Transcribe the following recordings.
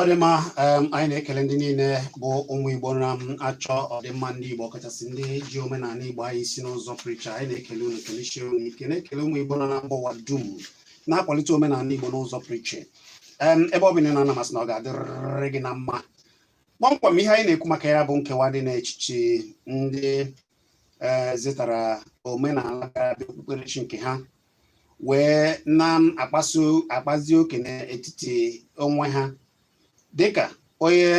ọdịmma anyị na-ekele ndị niile bụ ụmụ igbo na-achọ ọdịmma ndị igbo kachasị ndị ji omenala igbo anyị si n'ụzọ pụrụiche anyị na-ekele unu kelesie unu ike na-ekele ụmụ igbo na mba ụwa dum na-akwalite omenala igbo n'ụzọ pụrụiche ebe ọ bụla na ana m asị na ọ ga-adịrịrị gị na mma kpọmkwem ihe anyị na-ekwu maka ya bụ nkewa dị n'echiche ndị e, zetara omenala bịara abịa okpukperechi nke ha wee na-akpasu akpazi oke n'etiti onwe ha dịka onye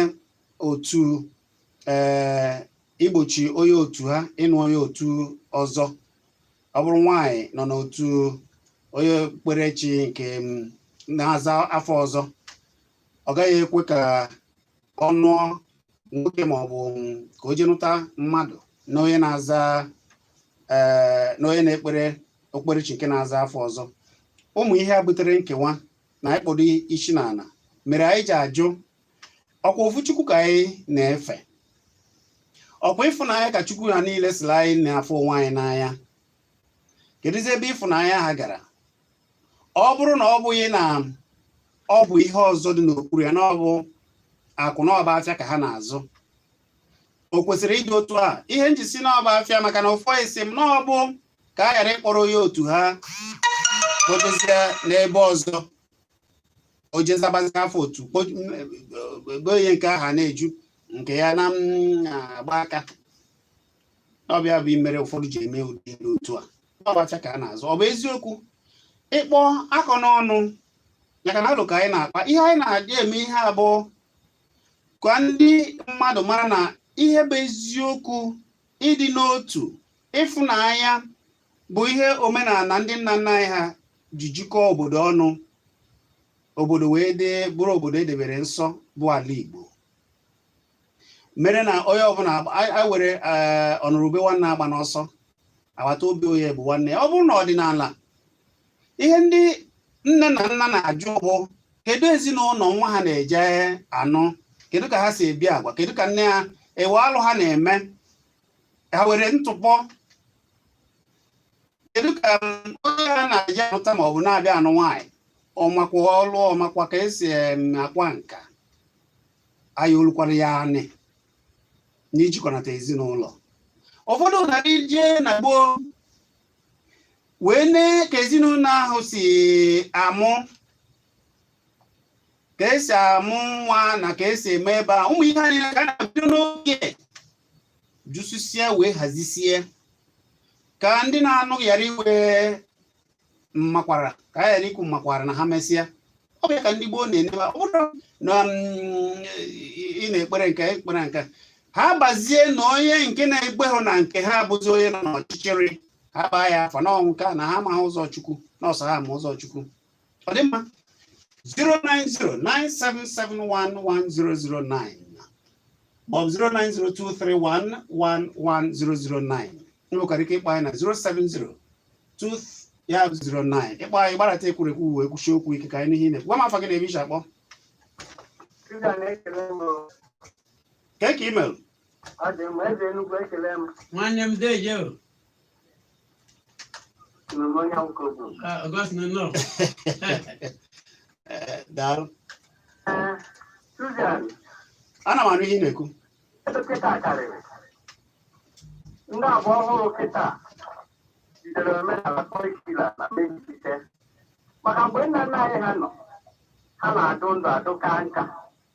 otu ee eh, igbochi onye otu ha ịnụ onye otu ọzọ ọ bụrụ nwaanyị nọ n'otu onye okpukperechi nke mm, na-aza afa ọzọ ọ gaghị ekwe ka ọ nụọ nwoke ma ọ bụ ka o je nụta mmadụ na onye na-aza ee na onye na-ekpere okpukperechi nke na-aza afa ọzọ ụmụ ihe a butere nkewa na ịkpọdo isi n'ala mere anyị ji ajụ ọkwa ofu chukwu ka anyị na-efe ọkwa ịfụnanya ka chukwu ha niile sịrị anyị na-afụ onwe anyị n'anya kedụzi ebe ịfụnanya ha gara ọ bụrụ na ọ bụghị na ọ bụ ihe ọzọ dị n'okpuru ya na ọ bụ akụ na ọ bụ afịa ka ha na-azụ o kwesịrị ịdị otu a ihe m ji sị na ọ bụ afịa maka na ụfọdụ sị m na ọ bụ ka a ghara ịkpọrọ onye otu ha kpotezie n'ebe ọzọ o je zabazi afa otu gbo onye nke ahụ na-eju nke ya na-agba aka ọ bụ ya bụ ihe mere ụfọdụ ji eme ụdị ihe otu a ọ bụ afịa ka a na-azụ ọ bụ eziokwu ịkpọ akọ n'ọnụ maka na alụ ka anyị na-akpa ihe anyị na-eji eme ihe a bụ ka ndị mmadụ mara na ihe bụ eziokwu ịdị n'otu ịfụnanya bụ ihe omenala ndị nna nna anyị ha ji jikọọ obodo ọnụ obodo wee dee bụrụ obodo e debere nsọ bụ ala Igbo mere na onye ọbụla anyị were eh, ọnụrụ ube nwanne agbana ọsọ agbata obi onye bụ nwanne ya ọ bụrụ n'ọdịnala ihe ndị nne na nna na-ajụ bụ kedu ezinụlọ nwa ha na-eje anụ kedu ka ha si ebi agwa kedu ka nne ha e nwe alụ ha na-eme ha nwere ntụpọ kedu ka mm, onye ha na-eje anụta ma ọ bụ na-abịa anụ nwaanyị ọ makwa ọlụ ọ makwa ka e si akwa nka anya o lukwara ya anị n'ijikọnata ezinụlọ ụfọdụ na-eje na gboo wee nee ka ezinụlọ ahụ si amụ ka e si amụ nwa na ka e si eme ebe a ụmụ ihe anyị ka a na-abido n'oge jụsịsịa wee hazisie ka ndị na-anụ ghara inwe m makwara ka a ghara ikwu m makwara na ha mesịa ọ bụ ya ka ndị gboo na-enebe ọ bụrụ na mm, ị na-ekpere nke ekpere nke ha bazie na onye nke na-ekpeghụ na nke ha abụzi onye nọ n'ọchịchịrị ha baa ya afa n'ọnwụ ka na ha amaghị ụzọ chukwu na ọ sọ ha ma ụzọ chukwu ọ dị mma 09097711009 maọbụ 09023111009 nwekwara ike ịkpọ anyị na 070 2009 ị kpọ anyị gbarata ekwurekwu wee kwusie okwu ike ka anyị nụ ihe ị na-ekwu gwa m afa gị na ebe i si akpọ kee ka i mere nwanne m deje o augustina nnọọ daalụ ana m anụ ihe ị na-ekwu Ndị kịta karịrị. Ndị agba ọhụrụ kịta jidere omenala kọrịkula na mejupụta. Maka mgbe nna nna anyị ha nọ, ha na-adụ ndụ adụ ka nka.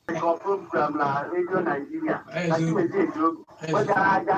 Dịka program na redio Naijiria na Chimezie Ezeogo, wegara aja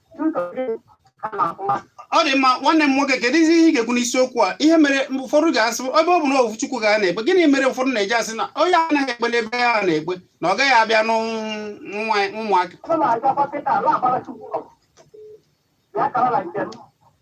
ọ dị mma nwanne m nwoke kedu ihe ị ga-ekwu n'isiokwu a ihe mere ụfọdụ ga-asị ebe ọ bụ na ofu Chukwu ka a na-ekpe gịnị mere ụfọdụ na-eji asị na onye anaghị ekpe n'ebe ya na-ekpe na ọ gaghị abịa n'ụmụaka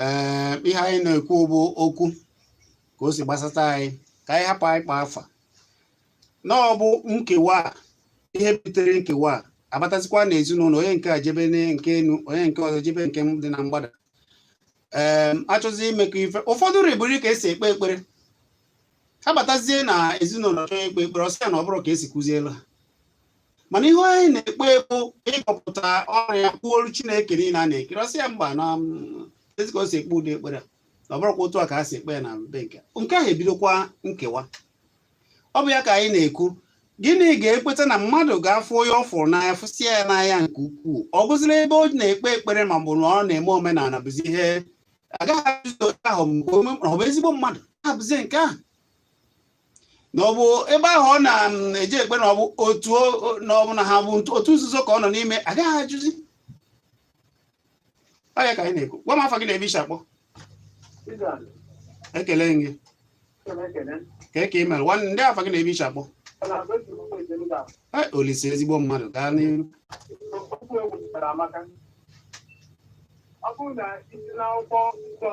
ee eh, ihe anyị na-ekwu bụ okwu ka o si gbasata anyị ka anyị hapụ anyị kpọ afa na ọ bụ nkewa ihe butere nkewa a abatazikwa na ezinụlọ onye nke a jebe nke enu onye nke ọzọ jebe nke dị na mgbada ee ehm, a chọzi imekọ ife ụfọdụ ribụri ka e si ekpe ekpere ha batazie na ezinụlọ chọọ ekpe ekpere ọ sị ya na ọ bụrọ ka e si kụzielu ha mana ihe anyị na-ekpe bụ ịkpọpụta ọnụ ya kwuolu chineke niile a na-ekiri ọ sị ya mba na mm, ezi ka o si ekpe ụdị ekpere a. na ọ bụrọkwa otu a ka e si ekpe ya na be nke a. nke ahụ ebidokwa nkewa ọ bụ ya ka anyị na-ekwu gịnị ga-ekweta na mmadụ ga-afụ onye ọ fụrụ n'anya fụsịa ya n'anya nke ukwuu ọ bụzịla ebe ọ na-ekpe ekpere ma ọ bụ na ọ na-eme omenala bụzi ihe a ga-eji ajụzi onye ahụ mgbe ome- ọ bụ ezigbo mmadụ abụzie nke ahụ na ọ bụ ebe ahụ ọ na-eje ekpe na ọ bụ otu na ọ bụ na ha bụ otu nzuzo ka ọ nọ n'ime a ga-eji ajụzi ọ ya ka anyị na-ekwu gwa m afa gị na ebe i si akpọ ekele m gị kee ka i mere nwanne ndị afa gị na ebe i si akpọ olise ezigbo mmadụ gaa n'iru ọ bụrụ na i si n'akwụkwọ nsọ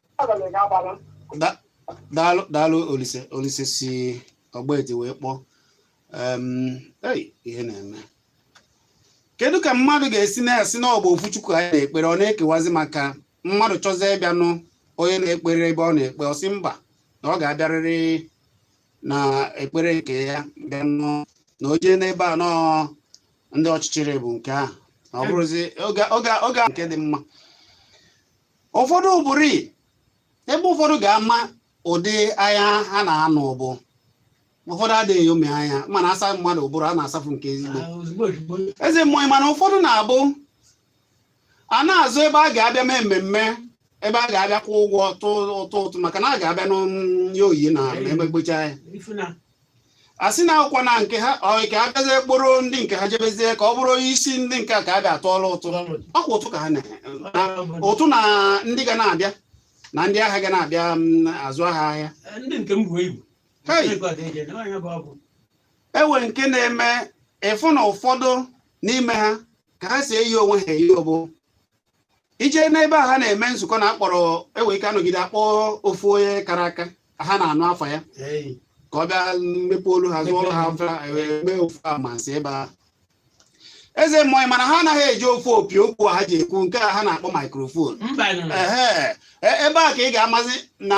daalụ daalụ olise olise si ọgbaeti wee kpọọ ihe na-eme kedu ka mmadụ ga-esi na-asị na ọ bụ ofu chukwu anyị na-ekpere ọ na-ekewazi maka mmadụ chọzie ịbịanụ onye na-ekpere ebe ọ na-ekpe ọ sị mba na ọ ga-abịarịrị n'ekpere nke ya bịanụ na o jee n'ebe a na ọ ndị ọchịchịrị bụ nke ahụ ọ bụrụzi oge nke dị mma ụfọdụ bụrụ ebe ụfọdụ ga-ama ụdị anya ha na-anụ ọ bụ ụfọdụ adịghị eyomi anya ma a na-asa mmadụ ụbụrụ a na-asafụ nke ezigbo ah, eze mmụọ ị ma na ụfọdụ na-abụ a na-azọ ebe a ga-abịa mee mmemme ebe a ga-abịa kwụ ụgwọ ụtụ ụtụ maka na a ga-abịa nye onyinye ma emegbachaa a sị na a kwụkwaa na nke ha ọ ka a bịazie kpọrọ ndị nke ha jebezie ka ọ bụrụ isi ndị nke a ka a bịa atụọla ụtụ ọkwa ụtụ ka ha na-atụ na ndị ga na-abịa na ndị aha ga na-abịa mm, azụ ha ahịa e nwee nke na-eme ị fụ na ụfọdụ n'ime ha ka ha si eyi onwe ha eyi ọ bụ ije n'ebe a ha na-eme nzukọ na akpọrọ e nwee ike a nọgide a kpọọ ofu onye kara aka ha na-anụ afa ya ka ọ bịa mepe olu ha zụọrụ ha e, mee ofu amansi ebe a eze mmụọ ị ma na ha anaghị eji ofu opi okwu ha ji ekwu nke a ha na-akpọ maikrofon e, ebe a ka ị ga-amazi na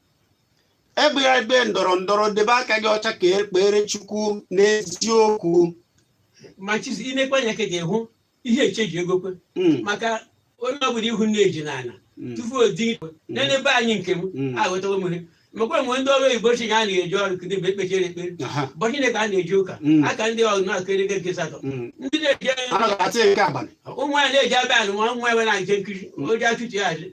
egbegha ebe ndọrọ ndọrọ debe aka gị ọcha ka i kpere chukwu n'eziokwu ma chizi ị na-ekwe anya ka gị hụ ihe eche ji ego kwe Mm, maka onye ọbụla ị hụ na-eje n'ala mm, tupu o di ikwe n'ebe anyị nke m Mm. aghọtawo m ihe mekwa mgbe ndị ọrụ oyibo ụbọchị a na-eje ọrụ kedụ mgbe e kpechara ekpere aha, ụbọchị Chineke a na-eje ụka Mm. aka ndị ọrụ na-akụrị ego nke satọ mm. ndị na-eji Anaghị atụ ya nke abalị ụmụ ya na-eji abịa anụ ma ụmụ ya nwere nke nkiri oji achụchi ya azụ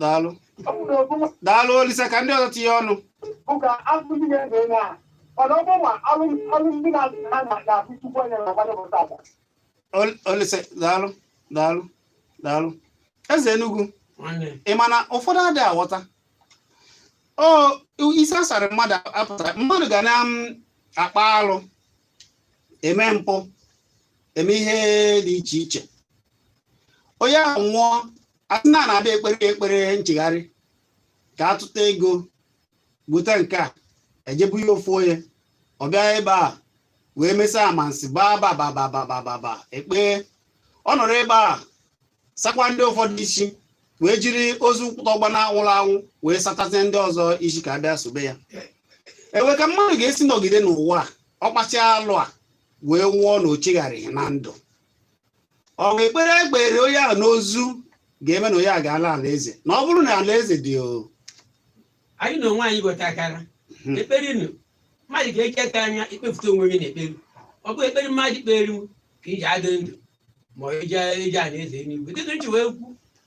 daalụ daalụ olisa ka ndị ọzọ tinye ọnụ ụka azụ ndị na-ege na mana ọ bụrụ ma alụmdi na azụ ha na-abụ chukwu onye na agbanye bụta agba olisa daalụ daalụ daalụ eze enugwu ị ma na ụfọdụ adịghị aghọta o isi a sara mmadụ a pụta mmadụ ga na-akpa alụ eme mpụ eme ihe dị iche iche onye ahụ nwụọ a sị na a na-abịa ekpere ekpere nchegharị ka a tụta ego bute nke a ejebu ya ofu onye ọ bịa ebe a wee mesịa amansi baa babababababa ekpe ọ nọrọ ebe a sakwa ndị ụfọdụ isi wee jiri ozu tọgba na anwụrụ anwụ wee satazie ndị ọzọ isi ka a bịa sobe ya ewe ka mmadụ ga-esi nọgide n'ụwa a, ọ kpasịa alụ a wee nwụọ na o chegharịghị na ndụ ọ bụ ekpere e kpere onye ahụ n'ozu ga-eme na onye a ga-ala ala eze na ọ bụrụ na ala eze dị o anyị na onwe anyị ghọtakwara Mhm. ekpere nụ mmadụ ga-eji aka anya ikpepụta onwe gị na ekpere ọ bụ ekpere mmadụ kpere ka iji adị ndụ ma ọ iji iji ala eze eluigwe dịka m ji wee kwu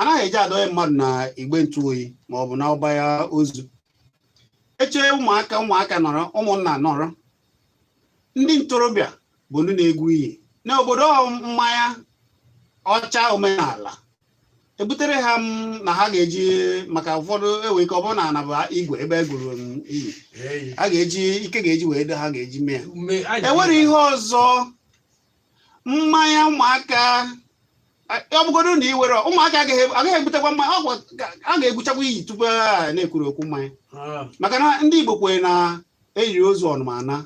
anaghị eji adọnye mmadụ na igbe ntụ oyi ma ọ bụ na ọba ya ozu eche ụmụaka ụmụaka nọrọ ụmụnna nọrọ ndị ntorobịa bụ ndị na-egwu iyi n'obodo mmanya ọcha omenala ebutere ha m na ha ga-eji maka ụfọdụ nwere ike ọ bụrụ na anaba igwe ebe e gwuru iyi a ga-eji ike ga-eji wee do ha ga-eji mee ya enwere ihe ọzọ mmanya ụmụaka ọ bụgodo na i nwere ụmụaka agaghị agaghị ebutekwa mmanya ọ gwa- ga- a ga-egwuchakwa iyi tupu a na-ekwuru okwu mmanya Ah, maka na ndị Igbo kwere na e yiri ozu ọnụma anaa.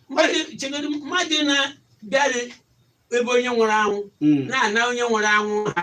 mmadụ chegodu mmadụ na-abịarị ebe onye nwụrụ anwụ Mm, na-ana onye nwụrụ anwụ ha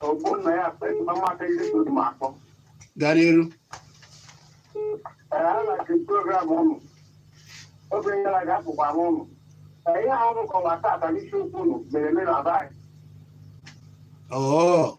Ogbonnaya sị na mmadụ ihe so dị m akpọ. gaa n'iru Ee, ana m ege program ụnụ. Oge gara aga akpọkwa m ụnụ. Ee, ihe ahụ m kọwa tata n'isiokwu ụnụ mere eme na be anyị. oo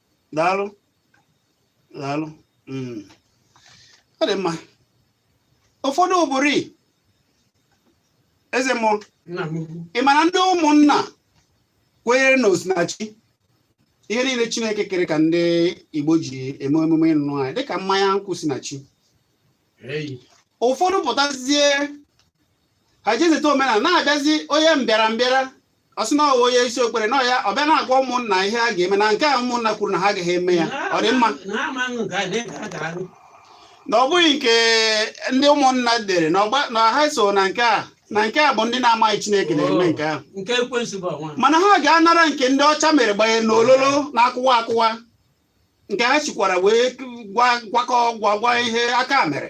daalụ daalụ hmm. ọ dị mma ụfọdụ ụbụrụ eze mmụọ ị mara ndị ụmụnna kwenyere na o si na chi ihe niile chineke kere ka ndị igbo ji eme emume ịnụ nwanyị dịka mmanya nkwụ si na chi ụfọdụ pụtazie ha jezeta omenala na-abịazi onye mbịara mbịara ọ sị na ọ bụ onye isi ekpere na ya ọ bịa na-agwa ụmụnna ihe a ga-eme na nke a ụmụnna kwuru na ha agaghị eme ya ọ dị mma na ha amaghị nke a na-ege akara gị na ọ bụghị nke ndị ụmụnna dere na ọgba- na ha so na nke a na nke a bụ ndị na-amaghị chineke na-eme nke ahụ nke ekwensu bụ ọnwa mana ha ga-anara nke ndị ọcha mere gbanye n'ololo na-akụwa akụwa nke ha sikwara wee gwa gwakọ gwa gwa ihe aka mere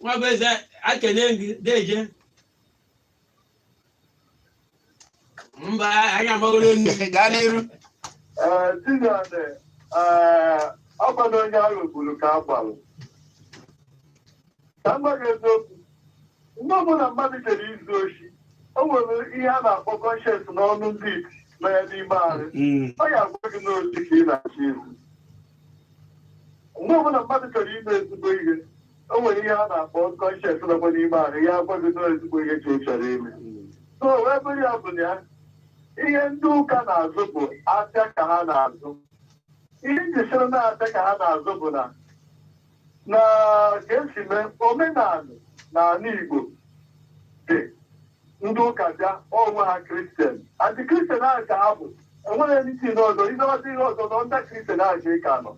Nwabụeze ekene gị deje mba anyị amagoro nne gaa n'iru Ee, Chineke, ee, ọ bụ na onye ahụ kwuru ka a gwara. Ka m gwa gị eziokwu, mgbe ọbụla mmadụ jere izu oshi, o nwere ihe a na-akpọ conscience n'ọnụ ndị iti nọ ya n'ime ahụ. Mm. Ọ ya-agwa gị na oshi ka ị na-achọ izu. mgbe ọbụla mmadụ chọrọ ime ezigbo ihe o nwere ihe a na-akpọ conscience nọkwa n'ime ahụ ya agwa gị na ezigbo ihe ka ị chọrọ ime so wee bụrụ ya bụ na ya ihe ndị ụka na-azụ bụ afịa ka ha na-azụ ihe m ji sị na afịa ka ha na-azụ bụ na na ka esi mee omenala na ala Igbo dị ndị ụka bịa onwe ha kristian and kristian ahụ ka ha bụ enweghị ndị si n'ọzọ ihe ọzọ ihe ọzọ na ndị kristian ahụ ka ị ka nọ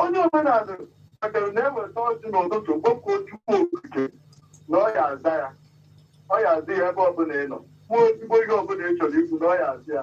onye omenala kpatara na-eweta ọjị n'ụtụtụ kpọkuo Chukwu okike na ọ ya aza ya ọ ya aza ya ebe ọbụla ị nọ kwuo ezigbo ihe ọbụla ị chọrọ ikwu na ọ ya aza ya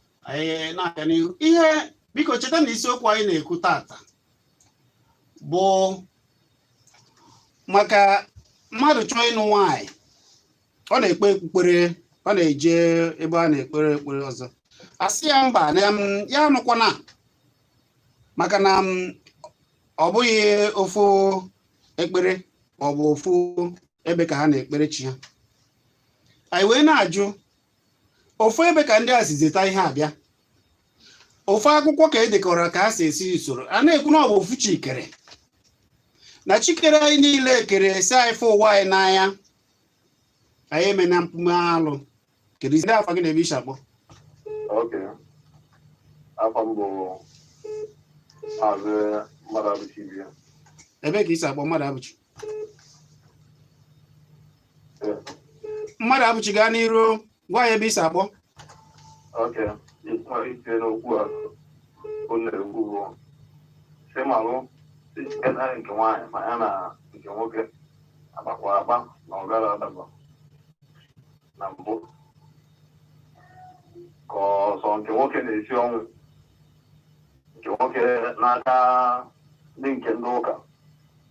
anyị na-aga n'ihu ihe biko cheta na isiokwu anyị na-ekwu tata bụ maka mmadụ chọọ ịnụ nwaanyị ọ na-ekpe okpukpere ọ na-eje ebe a na-ekpere ekpere ọzọ a sị ya mba na ya anụkwana maka na m, ọ bụghị ofu ekpere ma ọ bụ ofu ebe ka ha na-ekpere chi ha anyị wee na-ajụ ofu ebe ka ndị a si zeta ihe abịa ofu akwụkwọ ka e dekọrọ ka a si esi usoro a na-ekwu na ọ bụ ofu chi kere na chi kere anyị niile kere sị anyị fụ onwe anyị n'anya anyị emena mpụ na alụ keduzi afa gị na ebe i si akpọ Okay. Afa m bụ Maazị Mmadụabụchi Ibe. ebee ka i si akpọ Mmadụabụchi Mmadụabụchi gaa n'iru gwa anyị ebe i si akpọ malite n'okwu a ọ na-ekwu bụ si malụ naanị nke nwaanyị ma ya na nke nwoke agbakwa agba na ọ gara adaba na mbụ ka ọsọ nke nwoke na-esi ọnwụ nke nwoke n'aka ndị nke ndị ụka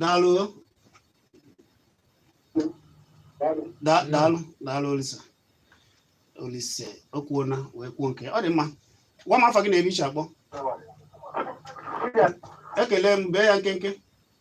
daalụ daalụ daalụ Olisa Olisa o kwuona wee kwuo nke ọ dị mma gwa m afa gị na ebe i si akpọ ekele m bee ya nkenke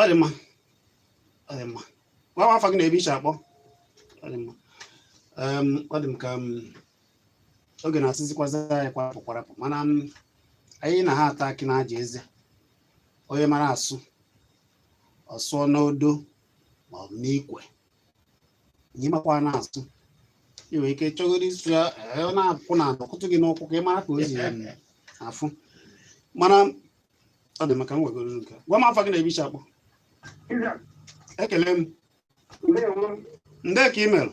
ọ dị mma ọ dị mma gwa m afa gị na ebe i si akpọ ọ dị mma ọ dị m ka oge na-asịzikwazi anyị kwarapụ kwarapụ mana anyị na ha ata akị na-aja eze onye mara asụ ọ sụọ n'odo ma ọ bụ n'ikwe gị makwa na-asụ ị nwere ike chọgoro ịsụ ya ee, ọ na-akwụ na ọ kụtụ gị n'ụkwụ ka ị mara ka o si em, afụ mana ọ dị mma ka m wegoro nke a. gwa m afa gị na ebe i si akpọ Iza, ekele m ndewo. ndee ka i mere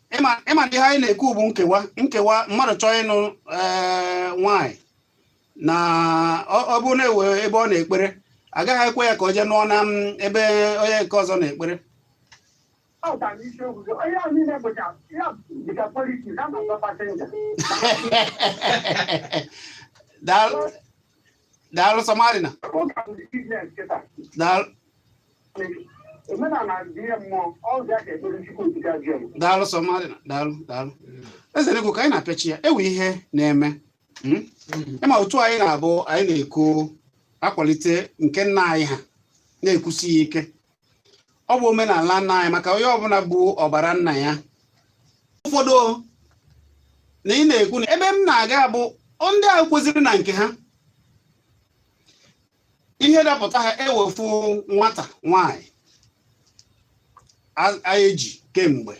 ịma na ihe anyị na-ekwu bụ nkewa nkewa mmadụ chọọ ịnụ eh, nwanyị na ọ bụ na-ewe ebe ọ na-ekpere agaghị ekwe ya ka o jee nụọ na mm, ebe onye nke ọzọ na-ekpere daalụ daalụ Somadina daalụ daalụ Somadina daalụ daalụ eze ego ka anyị na-apịachi ya ewe ihe na-eme hmm? ịma otu anyị na-abụ anyị na-ekwu akwalite nke nna anyị ha na-ekwusi ya ike ọ bụ omenala nna anyị maka onye ọbụla bu ọbara nna ya ụfọdụ na ị na-ekwu na ebe m na-aga bụ ndị ahụ kwesiri na nke ha ihe dapụta ha ewefu nwata nwanyị e ji kemgbe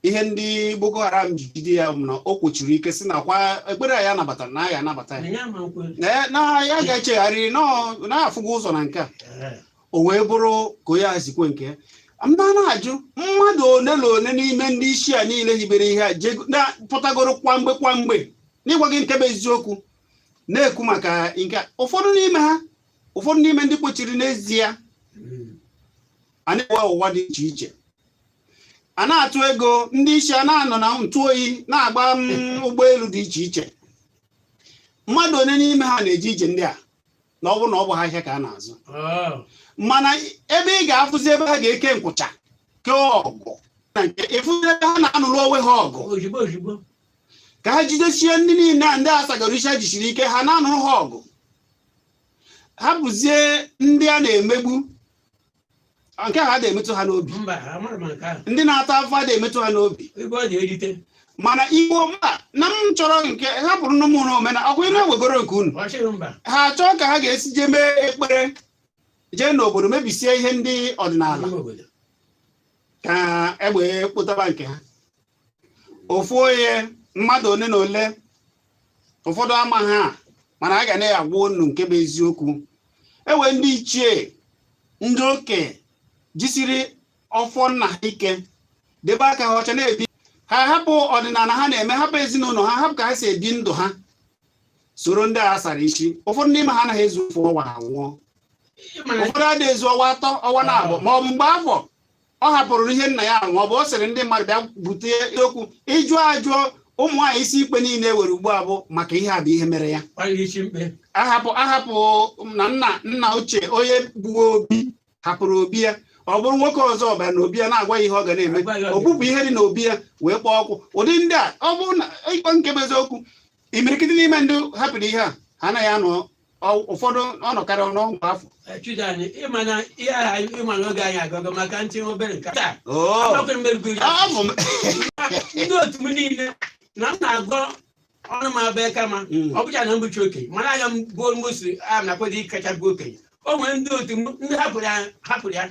ihe ndị Boko Haram ji jide ya bụ na o kwusiri ike sị na kwa ekpere ya nabatara na ya anabata ya Ee, na ya ga-echegharị na-afụgo ụzọ na nke a o wee bụrụ ka onye a sikwe nke ya m na na-ajụ mmadụ one na one n'ime ndị isi a niile hibere ihe a jego- na- pụtagoro kwamgbe kwamgbe n'ịgwa gị nke bụ eziokwu na-ekwu maka nke a. ụfọdụ n'ime ha ụfọdụ n'ime ndị kwesiri n'ezie a na-ewe ụwa dị iche iche a na-atụ ego ndị isi a na-anọ na ntụ oyi na-agba mm, ụgbọelu dị iche iche mmadụ one n'ime ha na-eje ije ndị a na ọ bụ na ọ bụha ahịa ka a na-azụ Oh. mana ebe ị ga-afụzi ebe ha ga-eke nkwụcha kee ọgụ na nke ịfụzi ebe ha na-anụrụ onwe ha ọgụ Ozugbo ozugbo. ka ha jidesie ndị niile a ndị a sagoro isi a jisiri ike ha na-anụrụ ha ọgụ ha bụzie ndị a na-emegbu Ọ nke ha na-emetụ ha n'obi mba amara m nke ahụ ndị na-ata afụfụ adịghị emetụ ha n'obi ebe ọ na-erite mana igbo mba na m chọrọ nke hapụrụnụ m omenala ọkwa unu ewegoro nke unu ọ chịrị mba ha achọọ ka ha ga-esi jee mee ekpere jee n'obodo mebisie ihe ndị ọdịnala n'ime obodo ka e wee kpọtaba nke ha ofu onye mmadụ ole na ole ụfọdụ ama ha mana a ga na-agwa unu nke bụ eziokwu e nwee ndị ichie ndị okenye jisiri ọfọ nna ha ike debe aka ha ọcha na-ebi ha hapụ ọdịnala ha na-eme hapụ ezinụlọ ha hapụ ka ha si ebi ndụ ha soro ndị a sara isi ụfọdụ n'ime ha anaghị ezu ofu ọnwa ha nwụọ ụfọdụ adịghị ezu ọnwa atọ ọnwa naabọ ma ọ bụ mgbe afọ ọ hapụrụ ihe nna ya ma ọ bụ ọ sịrị ndị mmadụ bịa bute okwu ịjụ ajụọ ụmụ nwaanyị isi ikpe niile e nwere ugbu a bụ maka ihe a bụ ihe mere ya ahapụ na nna nna ochie onye bu obi hapụrụ obi ya ọ bụrụ nwoke ọzọ bara na obi ya na-agwa ya ihe ọ ga na-eme o bupụ ihe dị na obi ya wee kpọọ ọkụ ụdị ndị a ọ bụrụ na ịkpọ nke bụ eziokwu imirikiti n'ime ndị hapụrụ ihe a ha anaghị anọ Ọ- ụfọdụ ọ nọkarị ọnụ afọ Chuda anyị ịma na ihe aha ịma na oge anyị agago maka ntị obere nke taa Oo, agbakwe mmerigweri ọ bụ m- ndị otu m niile na m na-agọ ọnụ m abịa kama Mm. ọ bụcha na m bụcha okenye mana aga m bụ mgbụsị a na-akwado ịkacha bụ okenye o nwere ndị otu m ndị hapụrụ ya hapụrụ ya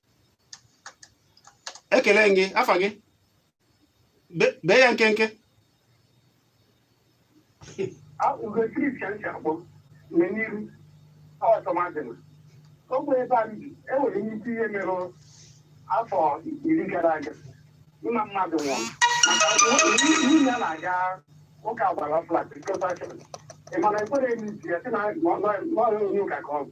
ekele m gị afa gị bee ya nkenke ogbe ebe a bi enwere nnukwu ihe mere afọ iri gara aga nna mmadụ nwụrụ nwunye ya na-aga ụka gbara flat ịmana ekwere eme isi ya sị na ọ bụ onye ụka ka ọ bụ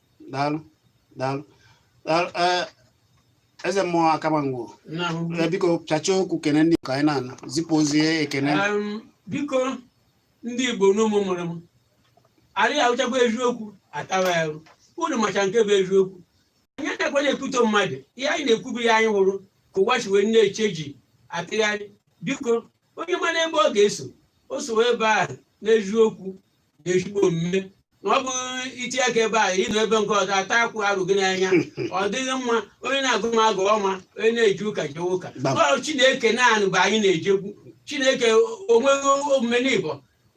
daalụ daalụ daalụ ee eze mmụọ akamangwo ee biko chacha okwu kene ndị ka anyị na-ana zipụ ozi ekene Um, biko ndị igbo n'ụmụ mụrụ m anyị ahụchakwa eziokwu atawa ya arụ. unu macha nke bụ eziokwu anyị adakwa na-ekwuto mmadụ ihe anyị na-ekwu bụ ihe anyị hụrụ ka ụwa si wee na-eche ji atụgharị biko onye mara ebe ọ ga-eso o sowe ebe ahụ n'eziokwu na ezigbo omume na ọ bụghị iti aka ebe a ịnọ ebe nke ọzọ ata akwụ arụ gị n'anya ọ dịghị mma onye na-agọ mmụọ gọwa onye na-eje ụka jee ụka Gbam. ọ chineke naanị bụ anyị na-ejekwu chineke onweghị omume n'igbo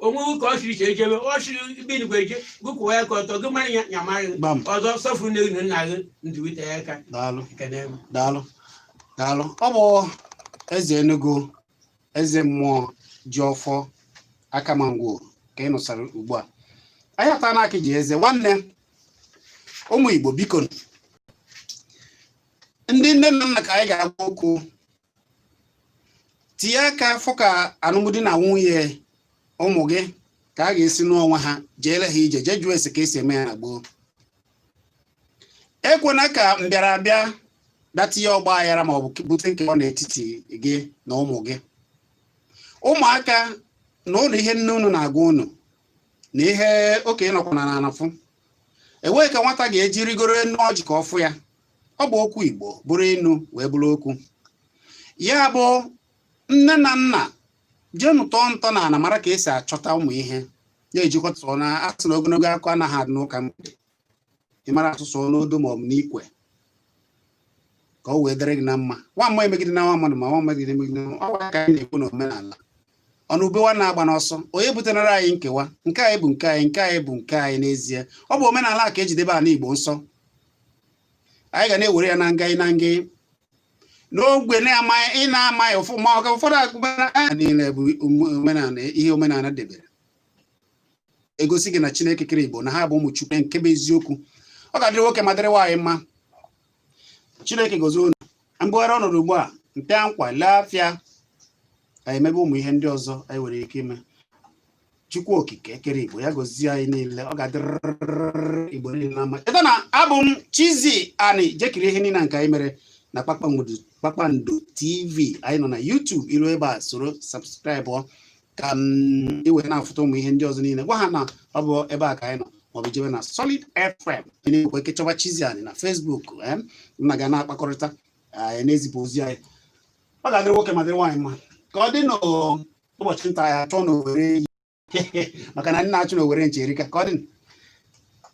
onweghị ka ọ siri iche eje be ọ siri bi n'igwe eje gị kwụwa aka ọtọ gị mara ya ya mara gị Gbam. ọzọ sọfụrụ nne gị na nna gị ndụ wee tee aka daalụ ekene m daalụ daalụ ọ bụ eze enugu eze mmụọ ji ọfọ akamangwo ka ị nụsara ugbu a anyị ata na akị ji eze nwanne ụmụ igbo biko ndị nne na nna ka anyị ga-agwa okwu tinye aka fụ ka anụmdi na nwunye ụmụ gị ka a ga-esi nụọ onwe ha jeere ha ije jee jụọ ese ka esi eme ya na gboo ekwena ka mbịarabịa bịa tinye ọgba aghara ma ọ bụ bute nkewa n'etiti gị na ụmụ gị ụmụaka na ụlọ ihe nne unu na-agwa unu na ihe okenye nọkwa na ana afụ enweghị ka nwata ga-eji rigoro enu ọjị ka ọ fụ ya ọ bụ okwu igbo bụrụ inu wee bụrụ okwu ya bụ nne na nna jeenụ tọọ ntị na ana mara ka esi achọta ụmụ ihe na-ejikọta na a sị na ogologo okwu anaghị adị n'ụka mgbede ị mara asụ sụọ n'odo ma ọ bụ n'ikwe ka o wee dịrị gị na mma nwa mmụọ emegidena nwa mmadụ ma nwa mmadụ emegide ọ gwara ka anyị na-ekwu n'omenala ọnụ ubewa na-agba n'ọsọ onye butenara anyị nkewa nke anyị bụ nke anyị nke anyị bụ nke anyị n'ezie ọ bụ omenala ka e ji edebe ala Igbo nsọ anyị ga na-ewere ya na nga na nga n'ogbe na-amaghị ị na-amaghị ụfọdụ agụmana niile bụ omenala ihe omenala debere egosi gị na chineke kere igbo na ha bụ ụmụ chukwu nke bụ eziokwu ọ ga-adịrị nwoke ma dịrị nwaanyị mma chineke gozie unu m bugharịa ọnọdụ ugbu a mpịa nkwa lee afịa anyị emebe ụmụ ihe ndị ọzọ anyị nwere ike ime chukwu okike kere igbo ya gozie anyị niile ọ ga-adịrịrị igbo niile mma cheta na abụ m chizzy ani jee kiri ihe niile nke anyị mere na kpakpando tv anyị nọ na youtube i ruo ebe a soro subscribe ka i wee na-afụta ụmụ ihe ndị ọzọ niile gwa ha na ọ bụ ebe a ka anyị nọ maọbụ jebe na Solid FM nwekwa ike chọwa Chizzy Ani na Facebook em, m na gị ana-akpakọrịta anyị na-ezipụ ozi anyị ọ ga-adịrị nwoke ma dịrị nwaanyị mma ka ọ dị n'ụbọchị nta anyị achụọ n'owere maka na ndị na-achụ n'owere nchi erika ka ọ dị